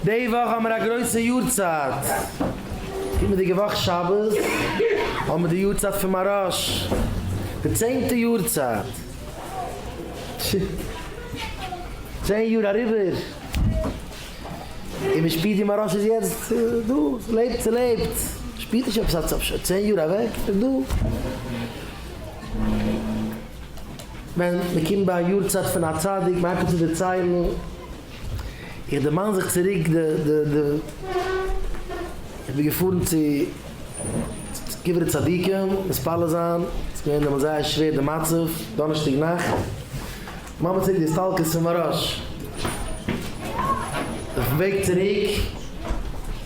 די וואך האמיר א גרויסע יארצייט, קומענדיגע וואך שבת האמיר די יארצייט פון מהרש די צענטע יארצייט, צען יאר אריבער, און מען שפירט ווי מהרש איז יעצט דא, ס'לעבט ס'לעבט, שפירט נישט עפעס אז ס'איז צען יאר אוועק, ס'איז דא. ווען מען קומט ביי א יארצייט פון א צדיק מען הייבט אן צו דערציילן, איך דערמאן זיך צוריק די די די איך בין געפארן צו קברי צדיקים מתפלל זיין ס'איז געווען דעמאלטס זייער שווער די מצב דאנערשטאג נאכט ממש צוריק די הסתלקות פון מהר א ש אויפן וועג צוריק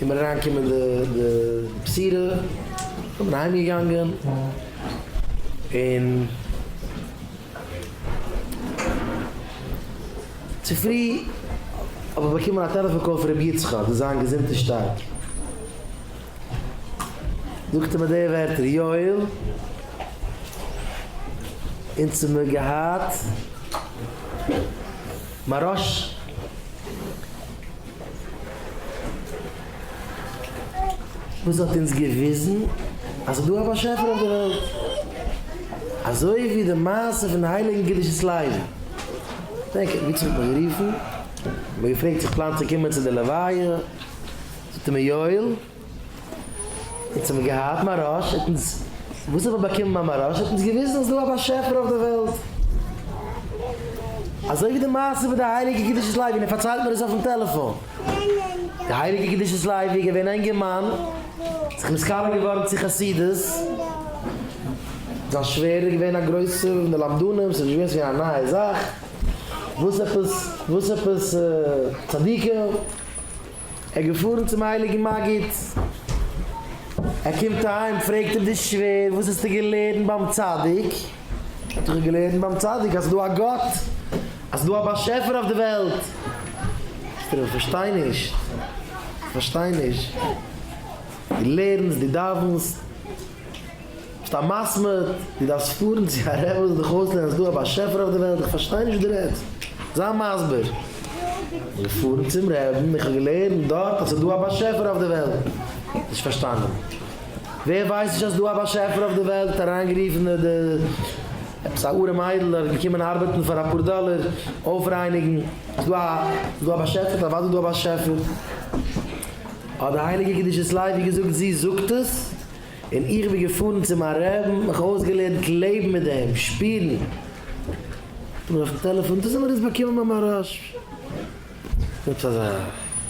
איז מיר אריינגעקומען די די בשורה און איך בין אהיים געגאנגען און. צופרי האב איך באקומען א טעלעפאן קאל פון רבי יצחק דאס זיין געזונט איז שטארק. זאגט ער מיר די ווערטער, יואל, אונז האב מיר געהאט מרש. וואס האט אונז געוויזן אז ס'דא א באשעפער אויף די וועלט, אזוי ווי די מעשה פון די הייליגן קדושת לוי, דענק איך ווי צו האט מיך גערופן, האט מיר געפרעגט צו איך פלאן צו קומען צו די לוויה, זאגט ער מיר יואל, אונז האבן געהאט מהרש, האט אונז, וואס האט מען באקומען ביי מהרש, האט אונז געוויזן אז ס'דא א באשעפער אויף די וועלט, אזוי ווי די מעשה פון די הייליגע קדושת לוי, און ער פארציילט מיר עס אויפן טעלעפאן. די הייליגע קדושת לוי איז געווען א אינגערמאן, זיך נתקרב געווארן צו חסידות, זיין שווער איז געווען א גרויסע מלמדנים, ס'איז נישט געווען צו אים א נייע זאך, וואס עפעס וואס עפעס צדיקים, ער איז געפארן צום הייליגן מגיד, ער קומט אהיים פרעגט אים די שווער וואס האסטו געלערנט ביים צדיק? האט זיך ער געלערנט ביים צדיק אז ס'דא א גאט, אז ס'דא א באשעפער אויף די וועלט. זאגט ער אים, כ'פארשטיי נישט, כ'פארשטיי נישט. דו לערנסט, דו דאווענסט, ביסט א מסמר, דו דארפסט פארן צו א רב וואס וועט דיך אויסלערנען אז ס'דא א באשעפער אויף די וועלט? איך פארשטיי נישט וואס דו רעדסט, זיי מסביר. איך בין געפארן צום רעבן, איך האב געלערנט דארט אז ס'דא א באשעפער אויף די וועלט. נישט פארשטאנען. ווער ווייסט נישט אז ס'דא א באשעפער אויף די וועלט אריינגערופן די עפעס א ארעם איידל אז געקומען ארבעטן פאר אפאר דאלער אויפרייניגן, ס'דא א באשעפער? אוודאי איז דא א באשעפער, האט די הייליגע קדושת לוי געזאגט זי זאגט עס און איך בין געפארן צו מיין רעבן מיך אויסגעלערנט לעבן מיט דעם, שפירן, האט ער מיר אויפן טעלעפאן דאס האט מיר עס באקומען ביי מהרש ב.